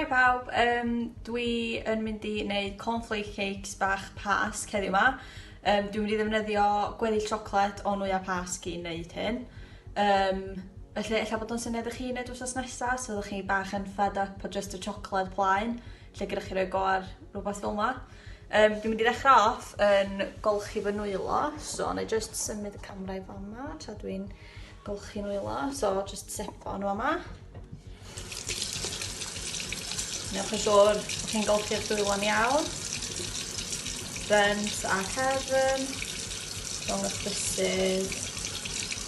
Hi pawb, um, dwi yn mynd i wneud cornflake cakes bach pasg heddiw ma. Um, dwi'n mynd i ddefnyddio gweddill siocled o nwyau pasg i wneud hyn. Um, felly, efallai bod o'n syniad i chi wneud wrthos nesaf, so ydych chi bach yn fed up o just y siocled plaen, lle gyda chi roi go ar rhywbeth fel yma. Um, dwi'n mynd i ddechrau off yn golchi fy nwylo, so na i just symud y camera i fan yma, tra dwi'n golchi nwylo, so just sepo nhw yma. Newch yn siŵr bod chi'n golchi'r dwylo'n iawn. Brent a cefn, rhwng y bysys,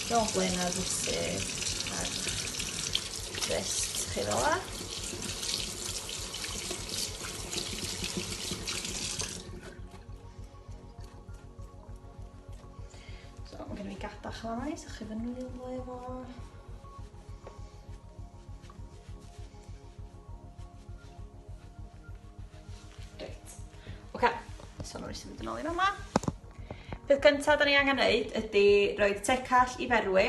rhwng blaen a'r bysys, a'r rest chi fel la. So, mae gen i fi gada chlai, so chi fynd nhw'n un le fo. Reit. Oce, so nhw'n eisiau mynd yn ôl i fama. Peth gyntaf da ni angen neud ydy roed tecall i ferwi,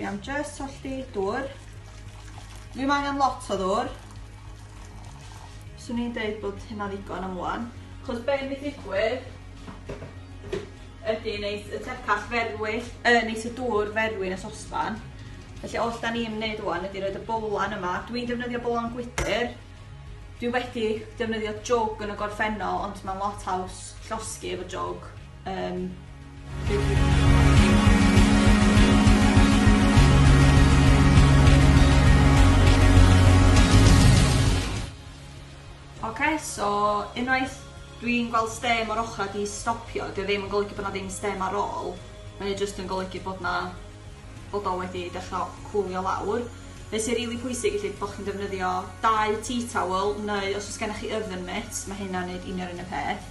Dwi am jyst tolli dŵr. Ddim angen lot o ddŵr. Swn i'n deud bod hynna'n ddigon am ŵan. Cos be' mynd i ddigwydd Ydy, neis. Y tecach ferwyll, uh, neis y dŵr ferwyn y sosban. Felly, oll da ni'n wneud o'n ydy roed y bowlan yma. Dwi'n defnyddio bowlan gwydr. Dwi wedi defnyddio jog yn y gorffennol, ond mae'n lot haws llosgi efo jog. Um, Oce so unwaith dwi'n gweld stêm o'r ochrau di stopio, dio ddim yn golygu bod na ddim stêm ar ôl, mae o jyst yn golygu bod na, bod o wedi dechrau cwlio lawr. Be sy'n rili pwysig felly bod chi'n defnyddio dau tea towel neu os oes gennych chi oven mitt, mae hynna'n neud union yn y peth.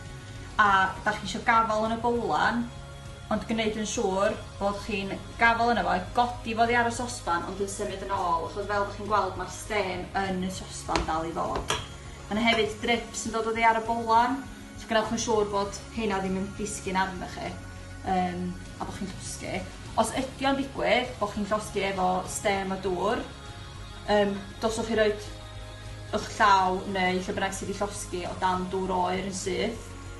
A da chi eisiau gafael yn y bowlan, Ond gneud yn siŵr bod chi'n gafal yno fo, godi fo oddi ar y sosban ond yn symud yn ôl achos fel ydych chi'n gweld mae'r stêm yn y sosban dal i ddod. Mae yna hefyd drips yn dod oddi ar y bolan, so gwnewch yn siŵr bod heina ddim yn disgyn arno chi um, a bod chi'n llosgi. Os ydy o'n digwydd bod chi'n llosgi efo stêm a dŵr, um, doswch chi roed eich llaw neu lle bynnag sydd wedi llosgi o dan dŵr oer yn syth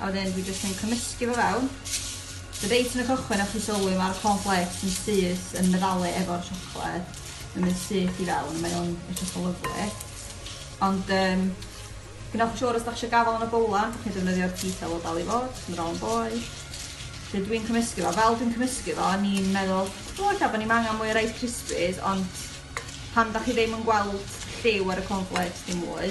A wedyn dwi jyst yn cymysgu fo fewn. So reit yn y cychwyn o'ch chi sylwi mae'r cornflakes yn syth yn meddalu efo'r siocled. Mae'n mynd syth i fewn a mae o'n edrych yn lyflu. Ond um, gwnewch yn siŵr os da chi eisiau gafael yn y bowlan, da chi'n defnyddio'r detail o dal i fod, yn rhan boi. Felly dwi'n cymysgu fo. Fel dwi'n cymysgu fo, ni'n meddwl, o, eithaf bod ni'n angen mwy o Rice Krispies, ond pan da chi ddim yn gweld lliw ar y cornflakes dim mwy,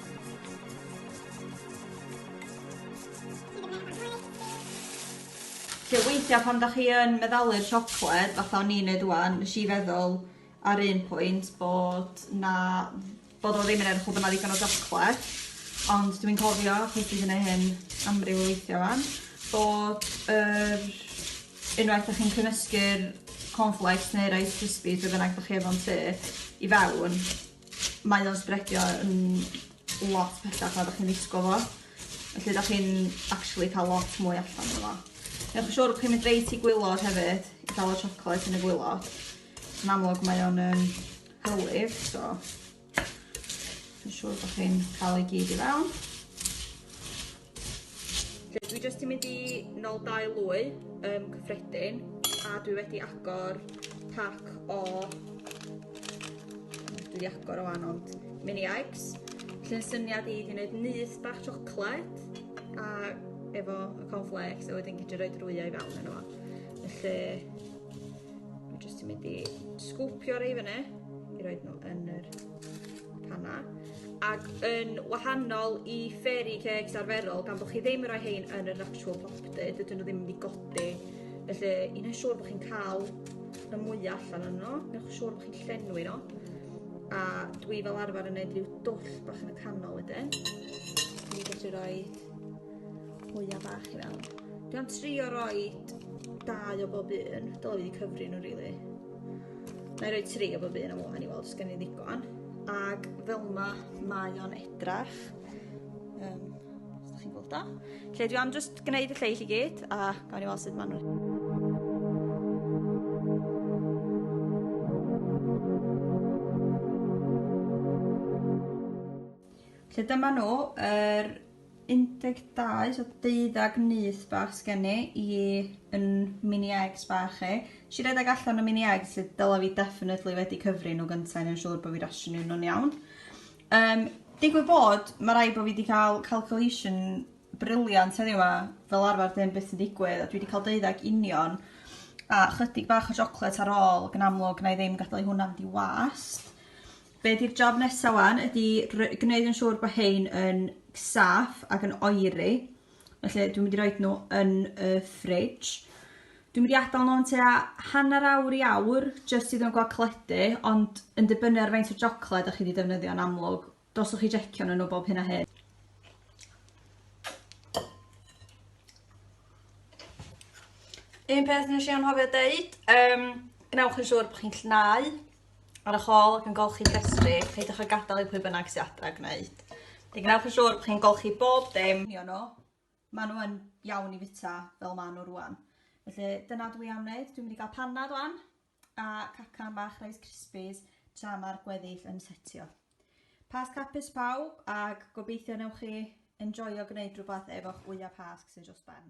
Felly weithiau pan dach chi yn meddalu'r siocled, fatha o'n i'n neud ŵan, nes i feddwl ar un pwynt bod 'na bod o ddim yn edrych fel bo' 'na ddigon o siocled, ond dwi'n cofio, achos dwi 'di neud hyn amryw o weithia' ŵan, bod yr unwaith 'dach chi'n cymysgu'r cornflakes neu Rice Krispies be' bynnag 'dach chi efo'n tŷ i fewn, Mae o'n sbredio yn lot pellach na 'dach chi'n ddisgwl fo. Felly 'dach chi'n actually ca'l lot mwy allan o fo. Newch yn siŵr bo' chi'n mynd reit i gwilod hefyd i ga'l y chocolate yn y gwilod. Yn amlwg mae o'n yym hylif, so yn siŵr bo' chi'n ca'l o i gyd i fewn. Felly dwi jyst yn mynd i nol dau lwy um, cyffredin a dwi wedi agor pac o dwi wedi agor o anon mini eggs. Felly'n syniad i di wneud nyth bach siocled a efo y cornflakes a wedyn gyd i roed rwyau i fewn yno fo. Felly dwi jyst yn mynd i sgwpio rei fyny i roed nhw yn yr panna. Ac yn wahanol i fairy cakes arferol, gan bod chi ddim yn rhoi hein yn yr actual popty, dydyn nhw ddim yn mynd i godi. Felly, i wneud siŵr bod chi'n cael y mwyaf allan o'n nhw, newch siŵr bod chi'n llenwi nhw. A dwi fel arfer yn gwneud rhyw dwll bach yn y canol wedyn. Dwi'n gallu rhoi mwyaf bach i mewn. Dwi'n trio rhoi dau o bob un, dylo fi wedi cyfri nhw rili. Really. Na i roi tri o bob un am wan i weld os gen i ddigon. Ac fel ma, mae o'n edrach. Um, os da chi'n gweld o. Lle dwi am just gwneud y lleill i gyd a gawn i weld sut ma'n rhaid. Lle dyma nhw, yr er 12 so deuddag nyth bach sgen ni i yn mini eggs bach i. Nes i redeg allan y mini eggs lle dyla fi definitely wedi cyfri nhw gynta i neud yn siŵr bod fi rationio nhw'n iawn. Um, digwydd bod, mae rai bod fi wedi cael calculation briliant heddiw yma, fel arfer ddim beth sy'n digwydd, a dwi wedi cael deuddag union, a chydig bach o siocled ar ôl, gan amlwg na i ddim gadael i hwnna'n di wast. Be di'r job nesa wan ydi gneud yn siŵr bod hein yn saff ac yn oeri. Felly dwi'n mynd i roed nhw yn y fridge. Dwi'n mynd i adael nhw'n tua hanner awr i awr jyst iddyn nhw gael cledu ond yn dibynnu ar faint o jocled ych chi wedi defnyddio yn amlwg. Doswch chi jecio nhw bob hyn a hyn. Un peth nes i anghofio deud, um, gwnewch yn siŵr bod chi'n llnau ar y hôl ac yn golchi llestri, peidiwch â gadael i pwy bynnag sydd adra gwneud. Fe gwnewch yn siŵr bod chi'n golchi bob dim. Ni nhw. Maen nhw yn iawn i fita fel maen nhw rwan. Felly dyna dwi am wneud. Dwi'n mynd i gael panna rwan a cacan bach Rice Krispies tra mae'r gweddill yn setio. Pas capus pawb ac gobeithio newch chi enjoyo gwneud rhywbeth efo'ch wyau pasg sydd dros ben.